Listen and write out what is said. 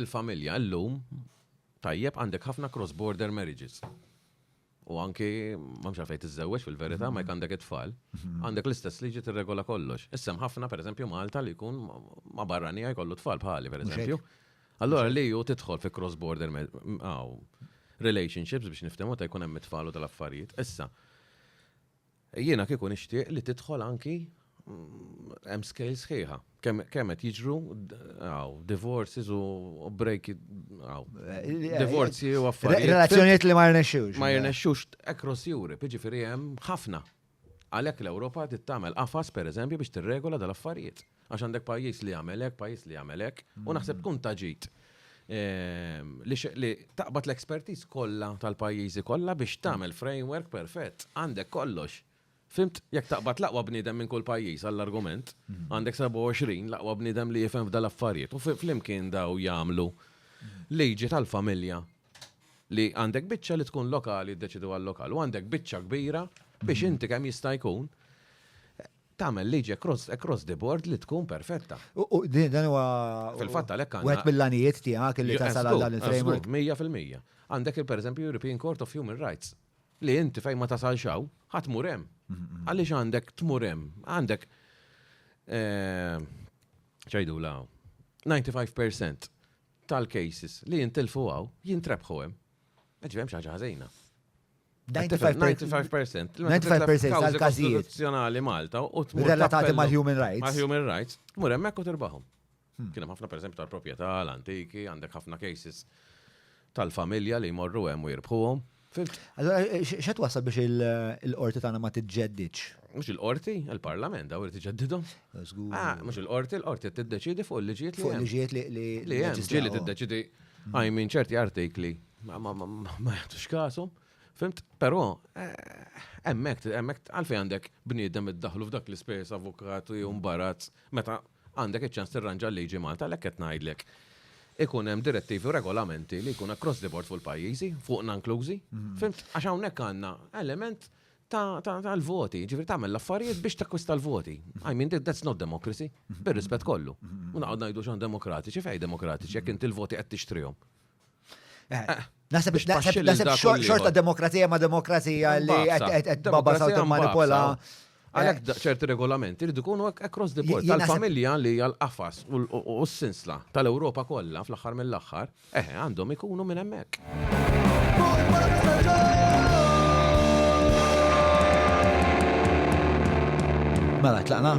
il-familja llum tajjeb għandek ħafna cross-border marriages. U anki, ma mxa fejt iż-żewġ fil-verita, ma għandek it-tfal, mhm. għandek l-istess liġi t-regola kollox. Issem ħafna, per eżempju, Malta li jkun ma barranija jkollu tfal bħali, per eżempju. Allora li ju titħol fi cross-border relationships biex niftemu ta' jkun hemm it-tfal u tal-affarijiet. Issa, Jiena kieku nixtieq li tidħol anki hemm scale sħiħa. Kemm qed jiġru għaw, divorces u break għaw. Divorzi u affarijiet. Relazzjonijiet li ma jirnexxux. Ma jirnexxux across Europe, jiġifieri hemm ħafna. Għalhekk l-Ewropa tittamel qafas pereżempju biex tirregola dal-affarijiet. Għax għandek pajjiż li jagħmel hekk, pajjiż li jagħmel hekk, u naħseb tkun ta' ġid ehm, li taqbad l-expertiż kollha tal-pajjiżi kollha biex tagħmel framework perfett. Għandek kollox. Fimt, jekk taqbad laqwa bniedem minn kull pajjiż għall-argument, mm. għandek 27 laqwa bniedem li jifhem f'dal affarijiet u flimkien daw jagħmlu liġi tal-familja li għandek biċċa li tkun lokali ddeċidu għal-lokal u għandek biċċa kbira biex mm. inti kemm jista' jkun tagħmel liġi across, across the board li tkun perfetta. U- u din- Dan huwa. Fil-fatt għalhekk għandna- Wieħed mill-għanijiet tiegħek li tasal għal dan il-framework. Mija fil-mija. Għandek il pereżempju European Court of Human Rights li inti fejn ma tasalx hawn, ħadd mur hemm. Għaliex għandek tmur hemm? Għandek eh, ċajdu la 95% tal-cases li jintilfu hawn jintrebħu hemm. Ġi hemm xi ħaġa ħażina. 95% tal-każijiet nazzjonali Malta u relatati mal-human rights. Mal-human rights, mur hemmhekk u tirbahom. Hmm. Kien hemm ħafna pereżempju tal-proprjetà, l-antiki, għandek ħafna cases tal-familja li jmorru hemm u jirbħuhom. Allora, eh, xed wasal biex il-qorti tagħna ma tiġġeddiċ? Mhux il-qorti, il-parlament daw irid iġeddidhom. Ah, mhux il-qorti, il-qorti tiddeċidi fuq il-liġijiet li. Fuq il-liġijiet li. Li hemm, ġieli tiddeċidi għajmin ċerti artikli ma jagħtux kasom. Fimt, però, hemmhekk eh, hemmhekk għalfejn għandek bniedem iddaħlu f'dak l-ispejjeż avukat u jew mbarazz meta għandek iċ-ċans tirranġa l-liġi Malta l qed ngħidlek. Ikun hemm direttivi u regolamenti li jkun across the board fuq il-pajjiżi, fuq nanklużi. Mhm. Fimt, għax hawnhekk għandna element tal-voti, ġifri tagħmel l-affarijiet biex takkwista l-voti. I mean, that's not democracy, mhm. bir-rispett kollu. Mhm. U naqgħod ngħidu xan demokratiċi, fej demokratiċi, jekk inti l-voti qed tixtrihom. Eh, Nasib xorta demokrazija ma demokrazija li għed baba sawta manipola. Għalek eh. ċerti regolamenti rridu kunu across the board tal-familja li għal-qafas u s-sinsla tal-Europa kollha fl-aħħar mill-aħħar, eħe eh, għandhom ikunu minn hemmhekk. Mela, tlaqna?